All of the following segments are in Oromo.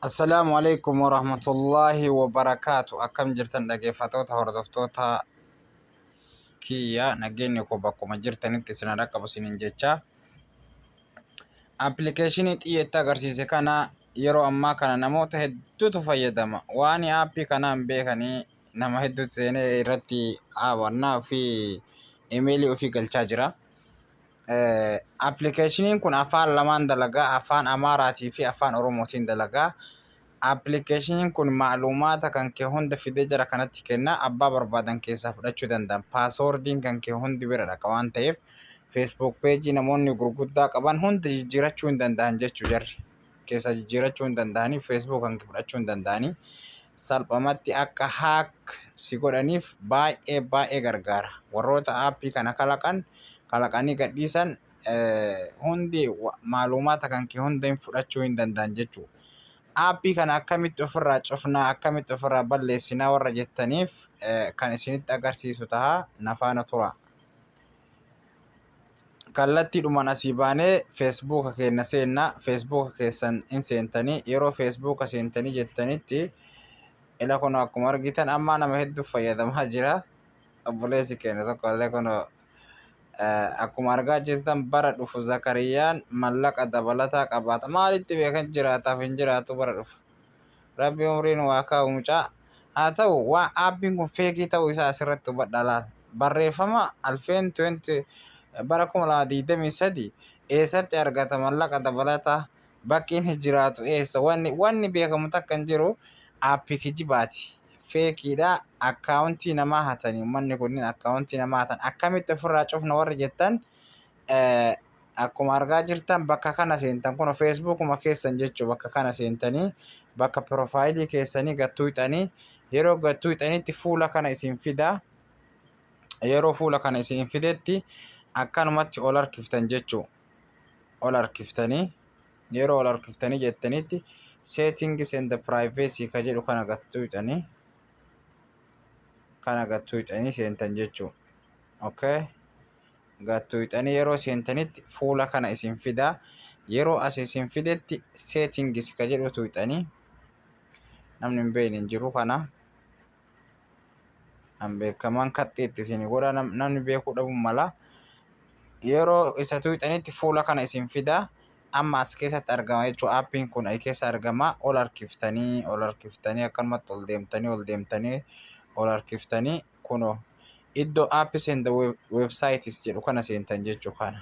Assalaamu alaikum warahmatullaahi wabarakaatu akkam jirtan dhageeffatoota hordoftoota kiyya nageenyi koo bakkuma jirtanitti isin dhaqqabu isiniin jecha appilikeeshinii xiyyeetti agarsiise kana yeroo ammaa kana namoota hedduutu fayyadama waan aappii kanaan beekanii nama hedduutu seenee irratti aawannaa fi imeelii ofii galchaa jira. Appilikeeshiniin kun afaan lamaan dalaga. Afaan Amaaraa fi Afaan Oromootiin dalaga. Appilikeeshiniin kun macluumaata kan kee hunda fidee jara kanatti kenna. Abbaa barbaadan keessaa fudhachuu danda'an. Paaswoordiin kan kee hundi bira dhaqa waan ta'eef feesbuuk peejii namoonni gurguddaa qaban hunda jijjiirachuu hin danda'an jechuu jarri. keessaa jijjiirachuu hin danda'anii feesbuuk kan fudhachuu hin danda'anii salphamatti akka haak si godhaniif baay'ee baay'ee gargaara warroota aappii kana kalaqan kalaqanii gadhiisan hundi maalumaata kan kee hunda hin fudhachuu hin danda'an jechuudha. Aappii kana akkamitti ofirraa cufnaa akkamitti ofirraa balleessinaa warra jettaniif kan isinitti agarsiisu ta'a nafaana tura. kallattiidhumaan asii baanee feesbuuka keenya seenna feesbuuka keessan hin seentanii yeroo feesbuuka seentanii jettanitti ila kun akkuma argitan ammaa nama hedduu fayyadamaa jira obboleessi keenya tokko illee kun akkuma argaa jirtan bara dhufu zakariyaan mallaqa dabalataa qabaata maalitti beekan jiraataaf hin jiraatu bara dhufu. Rabbi umrii nuu haa kaa'u mucaa. Haa ta'u, wa, aappiin kun feekii ta'uu isaa asirratti hubadhaa laal. Barreeffama Alfeen 20 bara 2023 eessatti argata mallaqa dabalataa? Bakki inni jiraatu eessa? Wanni, wanni beekamu takka hin jiru. Aappii kijibaati. Feekiidha. Akkaawuntii namaa hatanii. Ummanni kunniin akkaawuntii namaa hatan. Akkamitti ofirraa cufna warri jettan akkuma argaa jirtan bakka kana seentan kun feesbuukuma keessan jechuu bakka kana seentanii bakka piroofaayilii keessanii gattuuxanii yeroo gattuuxanitti fuula kana isin fidaa yeroo fuula kana isin fidetti akkanumatti ol harkiftan jechuu ol harkiftanii yeroo ol harkiftanii jettanitti seetingis and privacy ka jedhu kana gattuuxanii kana gattuuxanii seentan jechuu okay gattuuxanii yeroo seentanitti fuula kana isin fidaa yeroo as isin fidetti seetingis ka jedhu tuuxanii namni hin beekne hin jiru kana an beekamaan kaxxiitti isin godha namni beekuu dhabuun mala yeroo isa tuuxanitti fuula kana isin fidaa amma as keessatti argama jechuun aappiin kun as keessa argama ol harkiftanii ol harkiftanii akkanumatti ol deemtanii ol deemtanii ol harkiftanii kunoo iddoo apps and websites jedhu kana seentan jechuu kana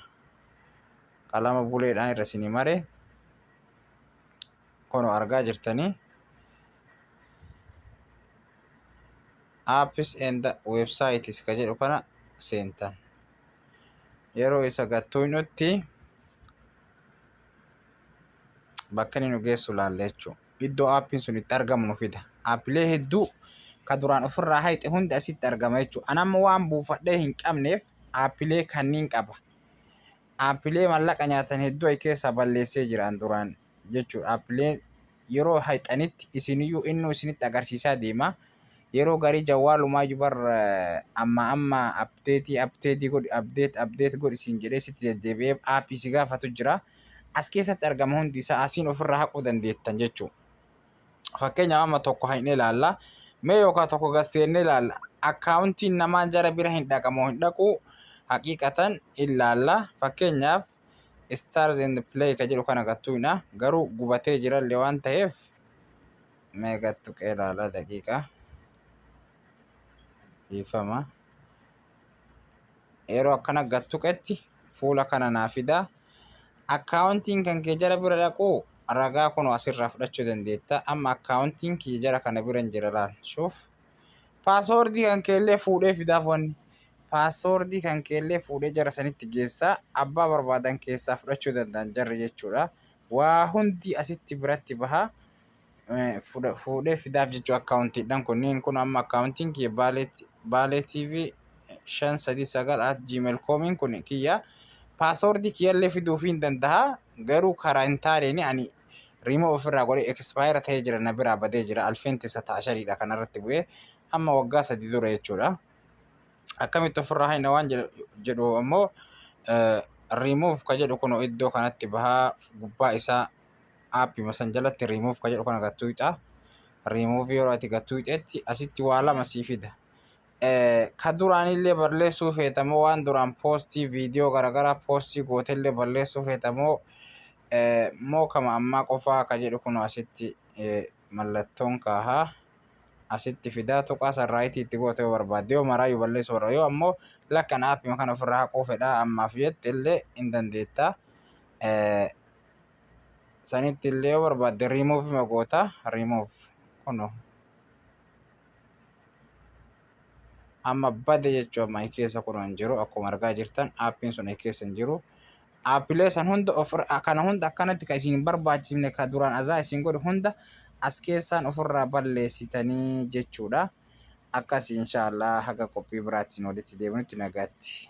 qalama buleedhaan irra isinii mare kunoo argaa jirtanii apps and websites ka jedhu kana seentan yeroo isa gattuu nutti bakka inni nu geessu laalla jechuudha. iddoo aappiin sun itti argamu nu fida. Aappilee hedduu ka duraan ofirraa hayxe hundi asitti argama jechuudha. An amma waan buufadhee hin qabneef aappilee kanniin qaba. Aappilee mallaqa nyaatan hedduu ayi keessaa balleessee jira an duraan jechuudha. Aappileen yeroo hayxanitti isiniyyuu innuu isinitti agarsiisaa deema. Yeroo garii jawwaalumaayyuu bar eh, amma amma apdeetii apdeetii godhi apdeet apdeet godhi siin jedhee sitti deddeebi'ee aappii si gaafatu jira. as keessatti argama hundi isaa asiin ofirraa haquu dandeettan jechuudha. Fakkeenyaaf amma tokko hin ilaalla. Mee yookaan tokko gad seennee ilaalla. Akkaawuntiin namaa jara bira hin dhaqamoo hin dhaqu haqiiqatan ilaalla. Fakkeenyaaf Stars and Play ka jedhu kana gattuudha. Garuu gubatee jirallee waan ta'eef mee gattu qeelaala daqiiqa. Dhiifama. yeroo akkana gad tuqetti fuula kana naa fidaa akkaawuntiin kan kee jara bira dhaquu ragaa kun asirraa fudhachuu dandeetta amma akkaawuntiin kiyya jara kana bira hin jira laal shuuf paasoordii kan keellee fuudhee fidaaf wanni paasoordii kan keellee fuudhee jara sanitti geessaa abbaa barbaadan keessaa fudhachuu danda'an jarri jechuudha waa hundi asitti biratti bahaa fuudhee fidaaf jechuu akkaawuntiidhaan kunniin kun amma akkaawuntiin kiyya baalee tv shan sadii sagal at gmail koomiin kun kiyya paasoordii kiyyallee fiduuf hin danda'a garuu karaa hin taaneen ani riimoo ofirraa godhee ekspaayera ta'ee jira na biraa badee jira alfeen tisa ta'a shaniidha kanarratti bu'ee amma waggaa sadii dura jechuudha. Akkamitti ofirraa haina waan jedhu ammoo riimuuf ka jedhu kun iddoo kanatti bahaa gubbaa isaa aappima san jalatti remove ka jedhu kana gattuuta remove yeroo ati gattuutetti asitti waa lama sii fida ka duraanillee balleessuu feetamoo waan duraan poostii viidiyoo garagaraa poostii gootellee balleessuu feetamoo moo kama ammaa qofaa ka jedhu kun asitti mallattoon kaahaa asitti fidaa tuqaa san raayitii itti goote yoo barbaadde yoo maraayyuu balleessuu barbaadde yoo ammoo lakkan aappima kana ofirraa haquu fedhaa ammaaf jette illee hin dandeettaa sanitti illee yoo barbaadde remove ma goota remove kuno amma bade jechuu amma i keessa kuno hin jiru akkuma argaa jirtan aappiin sun i keessa hin jiru aappilee san hunda of kana hunda akkanatti ka isin hin barbaachifne ka duraan azaa isin godhe hunda as keessaan ofirraa balleessitanii jechuudha akkas inshaallah haga qophii biraatiin walitti deebinutti nagaatti